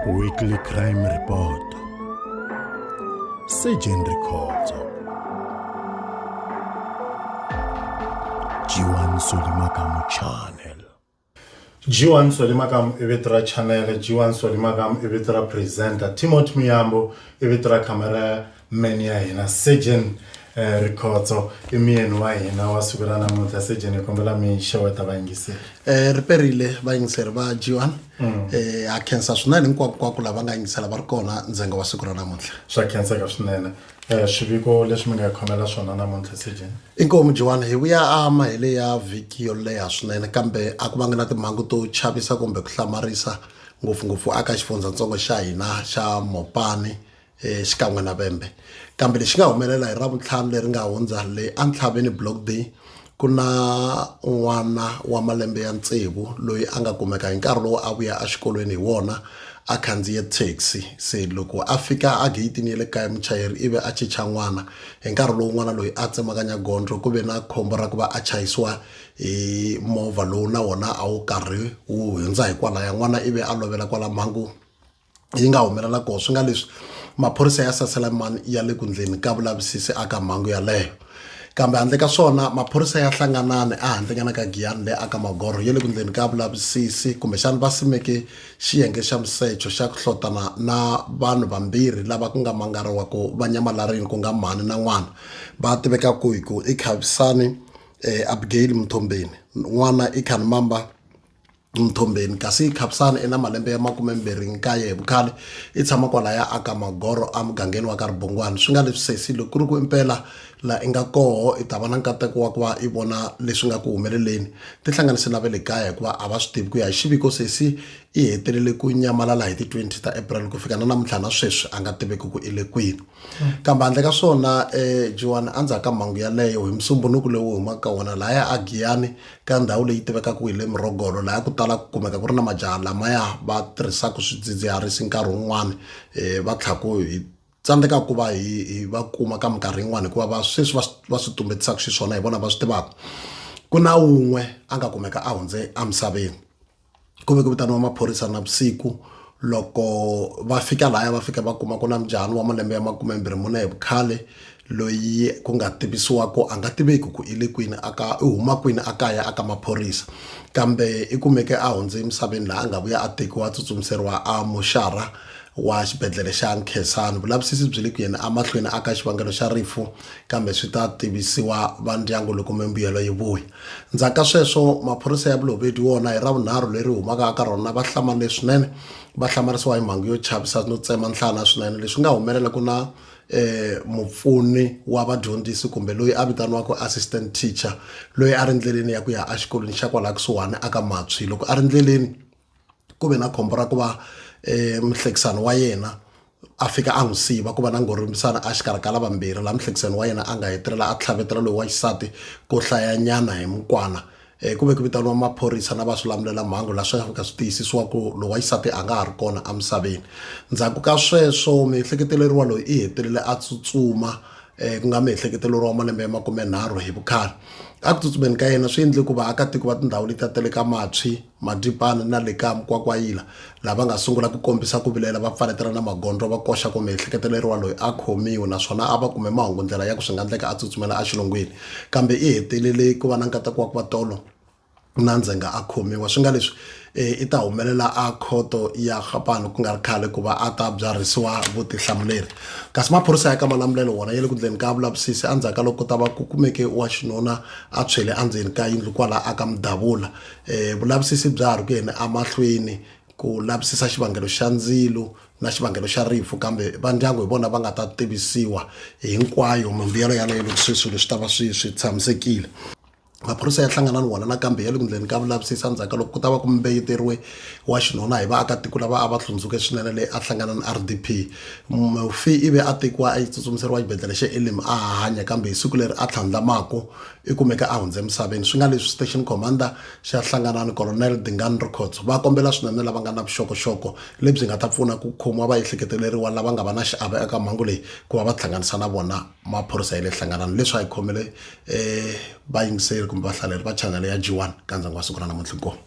Weekly Crime Report Surgeon Records G1 Solimakamo Channel G1 Solimakamo i vito ra channel G1 Solimakamo i vito ra presenter Timothy Muyambo i vito ra camera meni ya hina surgeon eh, rikhotso i muyeni wa hina wa siku ra namuntlha surgeon hi kombela mi xeweta vayingiseri um ri perile vayingiseri va g one um ha khensa swinene hinkwakunkwaku lava nga yingisela va ri kona ndzenga wa siku ra namuntlha swa khenseka swinene um swiviko leswi mi nga hi khomela swona namuntlha surgeon inkomu jiwani hi vuya a mahele ya vhiki yo leha swinene kambe a ku vangi na timhangu to chavisa kumbe ku hlamarisa ngopfungopfu aka xifundzatsongo xa hina xa mopani eh, xikan'we na vembe kambe lexi nga humelela hi ravuntlhanu leri nga hundza le entlhaveni block day ku na n'wana wa malembe ya tsevu loyi a nga kumeka hi nkarhi lowu a vuya exikolweni hi wona a khandziye taxi se loko a fika a geyitini ya le kaya muchayeri ivi a chicha n'wana hi nkarhi lowu n'wana loyi a tsemakanya gondzo ku ve na khombo ra ku va a chayisiwa hi movha lowu na wona a wu karhi wu hundza hi kwalaya n'wana ivi a lovela kwala mhangu yi nga humelela kona swi nga leswi maphorisa ya saselamani ya le ku ndleni ka vulavisisi aka mhangu yaleyo kambe handle ka swona maphorisa ya hlanganani ehandlenyana ka giyani leyi aka magorho ya le ku ndleni ka vulavisisi kumbexani va simeke xiyenge xa musecho xa ku hlotana na vanhu vambirhi lava ku nga mangariwaku va nyamalarini ku nga mhani na n'wana va tiveka ku hi ku i khavisani um abigail muthombeni n'wana i khanimamba mthombeni kasi khapisani ina malembe ya makume mbirhi nkaye hi vukhale i tshama kwala ya aka magoro a mugangeni wa ka ribongwani swi nga leswi sesi loko ku ri ku impela la i nga koho i ta va na nkateko wa ku va i vona leswi nga ku humeleleni tihlanganise na ve le kaya hikuva a va swi tivi ku ya hi xiviko sesi i hetelele ku nyamalala hi ti-twenty ta april ku fika na namuntlha na sweswi a nga tiveki ku i le kwini kambe handle ka swona um joani a ndzhaku ka mhangu yaleyo hi musumbunuku lowu humaka ka wona lahaya a giyani ka ndhawu leyi tivekaka hi le murhogolo lahaya ku tala ku kumeka ku ri na majaha lamaya va tirhisaka swidzidziharisi nkarhi wun'wani um va tlhaku hi tsandzeka ku va hi hi va kuma ka minkarhi yin'wani hikuva va sweswi va va swi tumbetisaka xiswona hi vona va swi tivaka ku na wun'we a nga kumeka a hundze emisaveni ku ve ku vitaniwa maphorisa na vusiku loko va fika laya va fika va kuma ku na mjahani wa malembe ya makume mbirhi mune hi vukhale loyi ku nga tivisiwa ku a nga tiveki ku i le kwini aka i huma kwini a kaya aka maphorisa kambe i kumeke a hundze emisaveni laha a nga vuya a tekiwa a tsutsumiseriwa a muxara wa xibedhlele xa nkhesani vulavisisi byi le ku yena emahlweni aka xivangelo xa rifu kambe swi ta tivisiwa va ndyangu loko mimbuyelo yi vuya Ndzhaku ka sweswo, maphorisa ya Bolobedu wona hi Ravunharhu leri humaka aka rona va hlamale swinene, va hlamarisiwa hi mhangu yo chavisa no tsema nhlana swinene leswi nga humelela ku na mupfuni wa vadyondzisi kumbe loyi a vitaniwaka assistant teacher loyi a ri ndleleni ya ku ya exikolweni xa kwalaya kusuhani aka Matswi loko a ri ndleleni ku ve na khombo ra ku va muhlekisani wa yena a fika a n'wi siva ku va na ngorimisana a xikarhi ka lavambirhi laha muhlekisani wa yena a nga hetelela a tlhavetela loyi wa xisati ko hlayanyana hi mukwana um ku ve ku vitaniwa maphorisa na va swi lamulela mhangu laha swi fika swi tiyisisiwa ku loyi wa xisati a nga ha ri kona emisaveni ndzhaku ka sweswo miehleketeleriwa loyi i hetelele a tsutsuma um ku nga miehleketeleriwa malembe ya makumenharhu hi vukhale a ku tsutsumeni ka yena swi endle ku vaakatiko va tindhawu letiya ta le ka matswi Madipana na le ka Mkwakwayila, lava nga sungula ku kombisa ku vilela va pfaletela na magondlo va koxa ku miehleketeleriwa loyi a khomiwe naswona a va kume mahungu ndlela ya ku swi nga ndleka a tsutsumela exilungwini kambe i hetelele ku va na nkateko wa ku va tolo na ndzhenga a khomiwa swi nga leswi i ta humelela a khoto ya Gapano ku nga ri khale ku va a ta byarhisiwa vutihlamuleri kasi maphorisa ya ka Malamulelo wona ya le ku ndleni ka vulavisisi endzhaku ka loko ku ta va ku kumeke wa xinuna a tshwele endzeni ka yindlu kwala a ka Mudavula Eh, vulavisisi bya ha ri ku yeni emahlweni ku lavisisa xivangelo xa ndzilo na xivangelo xa rifu kambe va ndyangu hi vona va nga ta tivisiwa hinkwayo mimbuyelo yaleyo loko swi swilo swi ta va swi swi tshamisekile maphorisa ya hlangana ni wona nakambe ya le ku ndleni ka vulavisisi endzhaku ka loko ku ta va ku mbeyeteriwe wa xinuna hi vaakatiko lava a va hlundzuke swinene leyi a hlangana ni r d p mufi i ve a tekiwa a yi tsutsumiseriwa xibedhlele xa elim a hanya kambe hi siku leri a tlhandlamako i kumeke a hundze emisaveni swi nga leswi station commander xa hlanganani colonel dingan records va kombela swinene lava nga na vuxokoxoko lebyi nga ta pfuna ku khomiwa va ehleketeleriwa lava nga va na xiave eka mhangu leyi ku va va hlanganisa na vona maphorisa ya le hlanganani leswi a yi khomele um vayingiseri kumbe vahlaleri va chanele ya g one ka ndyangu wa siku ra namuntlha inkomu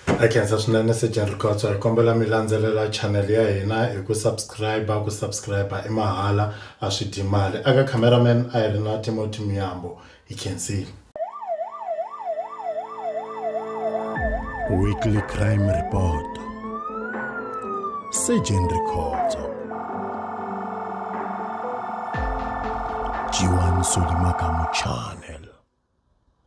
Ha khensa swinene Sejeni Rikhotso hi kombela mi landzelela channel ya hina hi ku subscribe ku subscribe i mahala a swi dyi mali aka cameraman a hi ri na Timothy Muyambo hi khensile Weekly Crime Report Sejeni Rikhotso Jiwani Solimakamu Channel